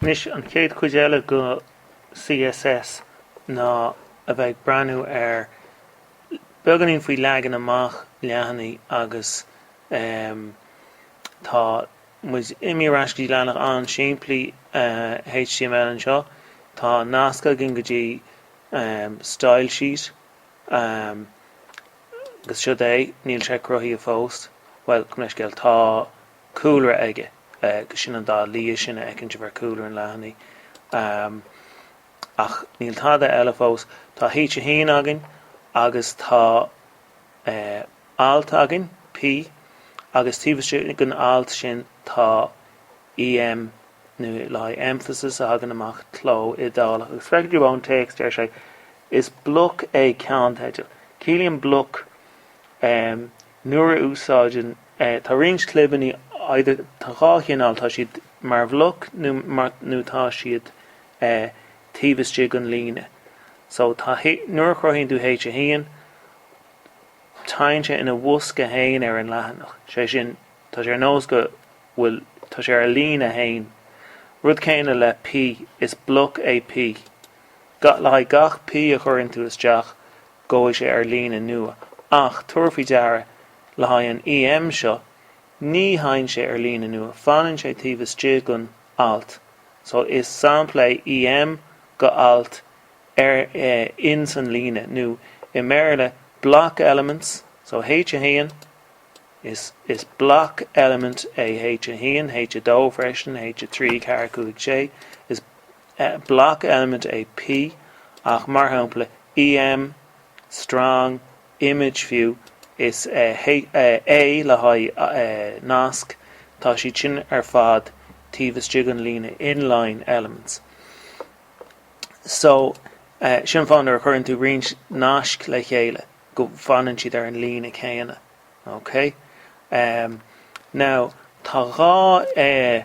Anois an chéad chuid eile go CSS ná a bheith ag breathnú ar beagáinín faoi leagan amach leathanaigh agus ehm tá muid imithe ar ais go dtí leathanach an-simplí HTML anseo. Tá nasc againn go dtí ehm style sheet ehm agus siod é, níl sé cruthaithe fós, bhuel, gabh mo leithscéal, tá, cúlra aige agus sin an dath liath sin a fheiceann tú ar chúlra an leathanaigh. Ach níl tada eile fós. Tá H1 againn agus tá Alt againn, P, agus taobh istigh den alt sin tá EM, nó le haghaidh emphasis, a thagann amach, cló iodálach. Agus feicfidh tú ón téacs, deir sé, is bloc é ceannteideal. Ciallaíonn bloc nuair a úsáideann tá roinnt clibeannaí either tá dhá chineál tá siad mar bhloc nó tá siad taobh istigh den líne so tá nuair a chruthaíonn tú h1 teigheann sé ina bhosca fhéin ar an leathanach sé sin tá sé ar nós go bhfuil tá sé ar líne fhéin rud céanna le P is bloc é P le haghaidh gach P a chuireann tú isteach Gabhfaidh sé ar líne nua. Ach tabhair faoi deara, le haghaidh an EM seo, ní theigheann sé ar líne nua, fanann sé taobh istigh den alt. So, is sampla é EM go alt ar in san líne, nó i mBéarla, block elements. So, H1, is is block element é H1, H2 freisin, H3, 4, 5, 6, is. e block element é P, ach mar shampla EM, strong, image fiú, is e A le haghaidh nasc, tá siad sin ar fad taobh istigh den líne inline elements. So, sin an fáth nuair a chuireann tú roinnt nasc le chéile go bhfanann siad ar an líne céanna. Okay? Now, tá dhá e.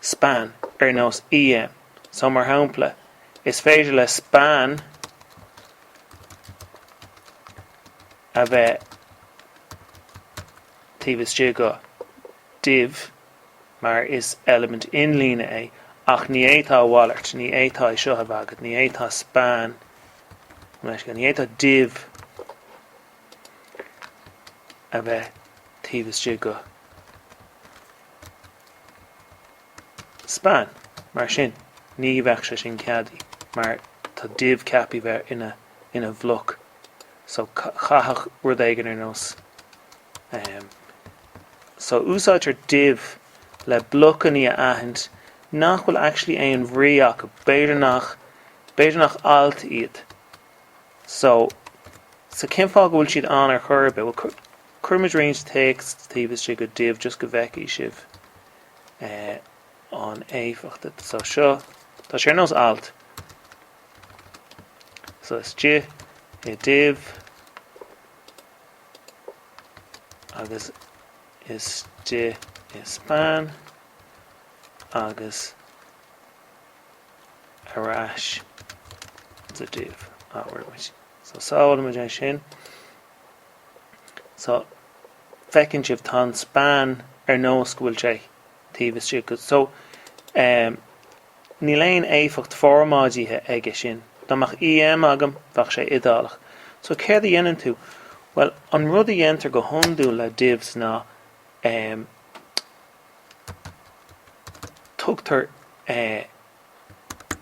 span, ar nós EM. So, mar shampla, is féidir le span a bheith taobh istigh go, div, mar is eilimint inlíne é, ach ní fhéadfá a mhalairt, ní fhéadfá é seo a bheith agat, ní fhéadfá span, ní fhéadfá div a bheith taobh istigh go. Span, mar sin ní bheadh sé sin ceadaí mar tá div ceapaí bheith ina ina bhloc so chaithfeadh rud éigin ar nós ehm so úsáidtear div le blocannaí a aithint nach bhfuil actually aon bhrí acu b'fhéidir nach b'fhéidir nach alt iad so so cén fáth go bhfuil siad ann ar chor ar bith? Bhuel, chuir muid roinnt téacs taobh istigh go div just go bhfeicfidh sibh eh, an éifeacht. So seo, tá sé ar nós alt. So is d-i i div agus is d-i i span agus ar ais go div. So sábhálaimid é sin. So feiceann sibh tá an span ar nós go bhfuil sé taobh istigh dhó. So eh níl aon éifeacht formáidithe aige sin. Dá mbeadh EM agam bheadh sé iodálach. So céard a dhéanann tú? Bhuel an rud a dhéantar go hiondúil le divs ná eh tugtar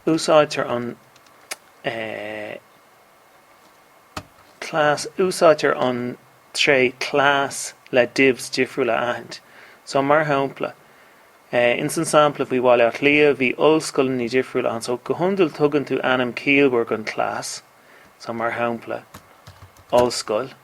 úsáidtear an class úsáidtear an tréith class le divs difriúil a aithint so mar shampla in san sampla faoi Bhaile Átha Cliath bhí ollscoileanna difriúil ann so go hiondúil tugann tú ainm ciallmhar gon class so mar shampla ollscoil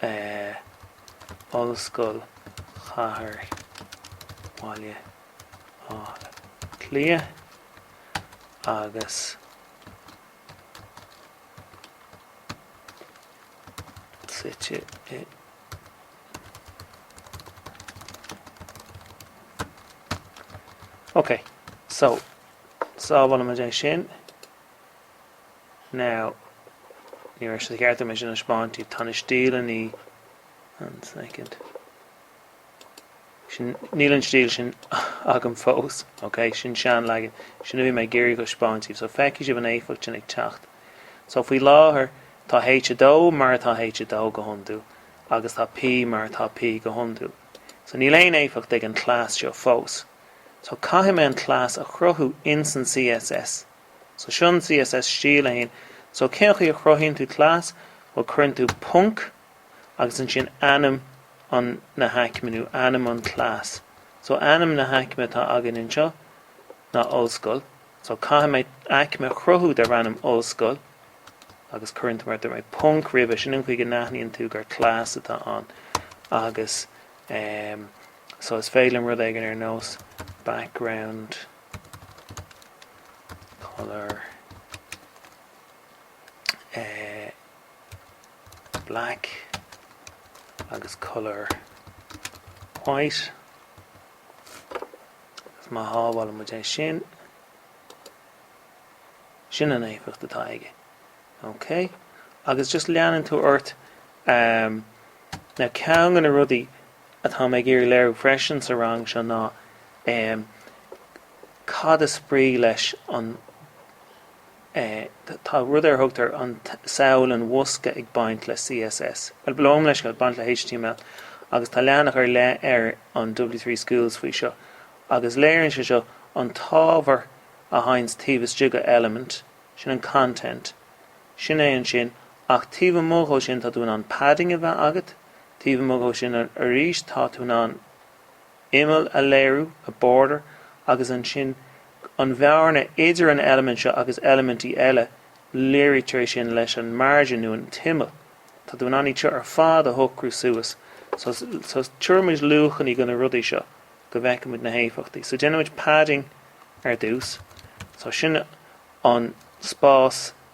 eh Ollscoil Chathair Bhaile Átha Cliath agus suite i Ok, so sábhálaimid é sin. Now, ní raibh sé ceart agam é sin a thaispeáint daoibh. Tá na stíleanna. One second. Níl an stíl sin agam fós, ok? Sin seanleagan. Sin a bhí mé ag iarraidh a thaispeáint daoibh. So, feicfidh sibh an éifeacht sin ag teacht. So, faoi láthair, tá H2 mar atá H2 go hiondúil, agus tá P mar atá P go hiondúil. So, níl aon éifeacht ag an class seo fós. So, caithfidh mé an class a chruthú ins an CSS. So sin CSS Stíl 1. So cén chaoi a chruthaíonn tú class? Bhuel cuireann tú ponc agus ansin ainm an na haicme nó ainm an class. So ainm na haicme atá againn anseo ná Ollscoil. So caithfidh mé aicme a chruthú darb ainm Ollscoil agus cuireann tú mar dúirt mé ponc roimhe sin an chaoi a n-aithníonn tú gur class atá ann agus um, so is féidir liom rud éigin ar nós background. colour black agus colour white agus má shábhálann muid é sin sin an éifeacht atá aige ok agus just leanann tú ort. Ceann de na rudaí atá mé ag iarraidh léiriú freisin sa rang seo ná cad is brí leis an tá rud ar a dtugtar an samhail an bhosca ag baint le CSS. Bhuel bíonn leis ag baint le html agus tá leathanach ar leith ar an W3 Schools faoi seo agus léiríonn sé seo an t-ábhar atá ann taobh istigh de element, sin an content, sin é ansin ach taobh amuigh dó sin tá tú in ann padding a bheith agat, taobh amuigh dó sin arís tá tú in ann imeall a léiriú, a border, agus ansin an bhearna idir an eilimint seo agus eilimintí eile léirítear é sin leis an margin nó an t-imeall. Tá tú in ann iad seo ar fad a shocrú suas. So tabharfaimid luachannaí do na rudaí seo go bhfeicfimid na héifeachtaí. So déanaimid padding ar dtús. So sin an spás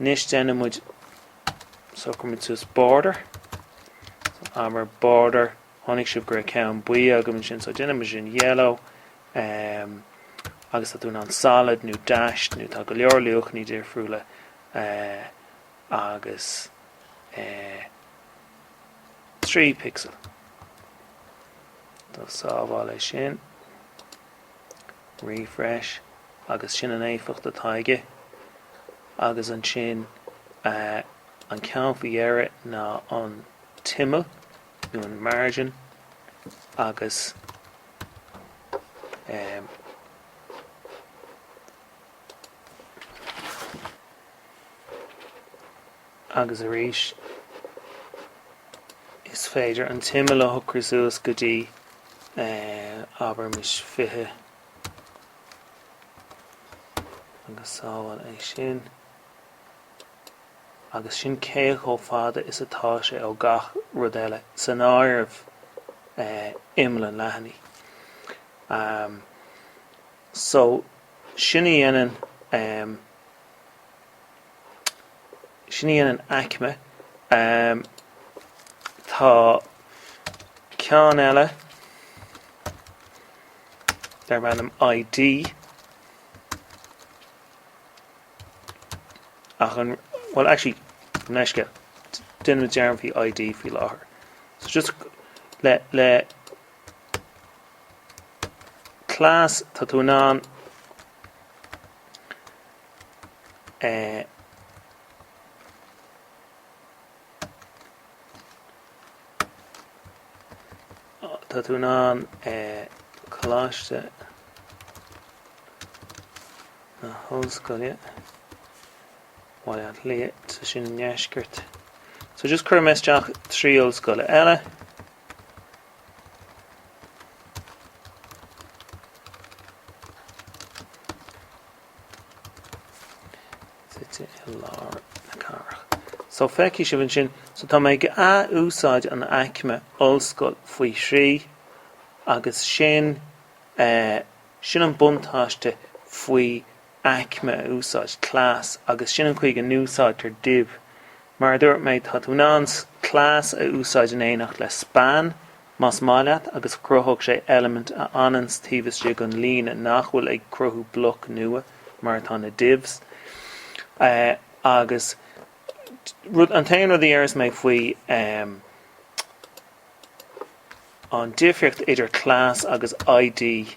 Anois déanann muid, socraíonn muid suas border, so border, chonaic sibh gur ceann buí agam ansin, so déanann muid sin yellow, um, agus tá tú in an solid nó dashed nó tá go leor luachannaí difriúla uh, eh, agus uh, eh, 3 pixel. So sábháil é sin. Refresh, agus sin an éifeacht atá aige. Agus ansin an ceann faoi dheireadh ná an tImeall nó an Margin agus Agus arís is féidir an t-imeall a shocrú suas go dtí, abraimis, 20 agus sábháil é sin. Agus sin cé chomh fada is atá sé ó gach rud eile, san áireamh imeall an leathanaigh. So sin a dhéanann. Sin í an aicme. Tá ceann eile darb ainm ID ach an, bhuel actually gabh mo leithscéal, déan dearmad faoi ID faoi láthair. So just le, le class tá tú in ann Tá tú in ann Coláiste na hOllscoile, Baile Átha Cliath, tá sé sin i ndeisceart. So just cuirfidh mé isteach trí ollscoil eile. suite i lár na cathrach. So feicfidh sibh ansin, so tá mé ag athúsáid an aicme ollscoil faoi thrí agus sin, eh, sin an buntáiste faoi aicme a úsáid, class, agus sin an chaoi a n-úsáidtear div. Mar a dúirt mé, tá tú in ann class a úsáid in éineacht le span, más maith leat, agus cruthóidh sé eilimint a fhananns taobh istigh den líne nach bhfuil ag cruthú bloc nua, mar atá na divs. Agus rud, an t-aon rud a déarfas mé faoi an difríocht idir class agus ID,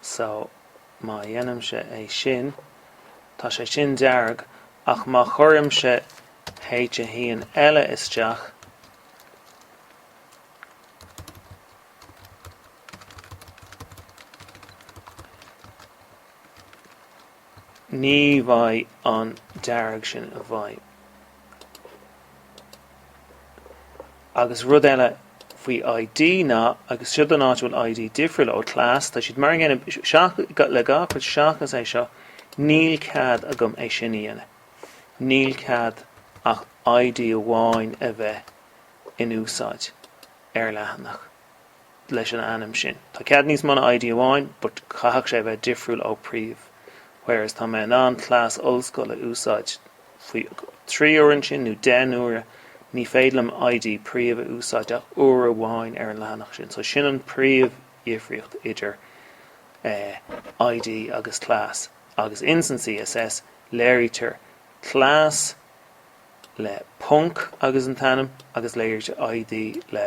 so má dhéanaimse é sin tá sé sin dearg ach má chuirimse H1 eile isteach ní bheidh an dearg sin i bhfeidhm. Agus rud eile faoi ID ná, agus seo an áit a bhfuil ID difriúil ó class, tá siad mar an gcéanna seach, le gach rud seachas é seo, níl cead agam é sin a dhéanamh. Níl cead ach ID amháin a bheith in úsáid ar leathanach. leis an ainm sin. Tá cead níos mó ná ID amháin but chaithfeadh sé a bheith difriúil ó príomh whereas tá mé in ann class ollscoil a úsáid faoi trí huaire ansin nó deich n-uaire ní féidir liom ID príomh a úsáid ach uair amháin ar an leathanach sin so sin an príomh dhifríocht idir eh ID agus class agus ins an CSS léirítear class le ponc agus an t-ainm agus léirítear ID le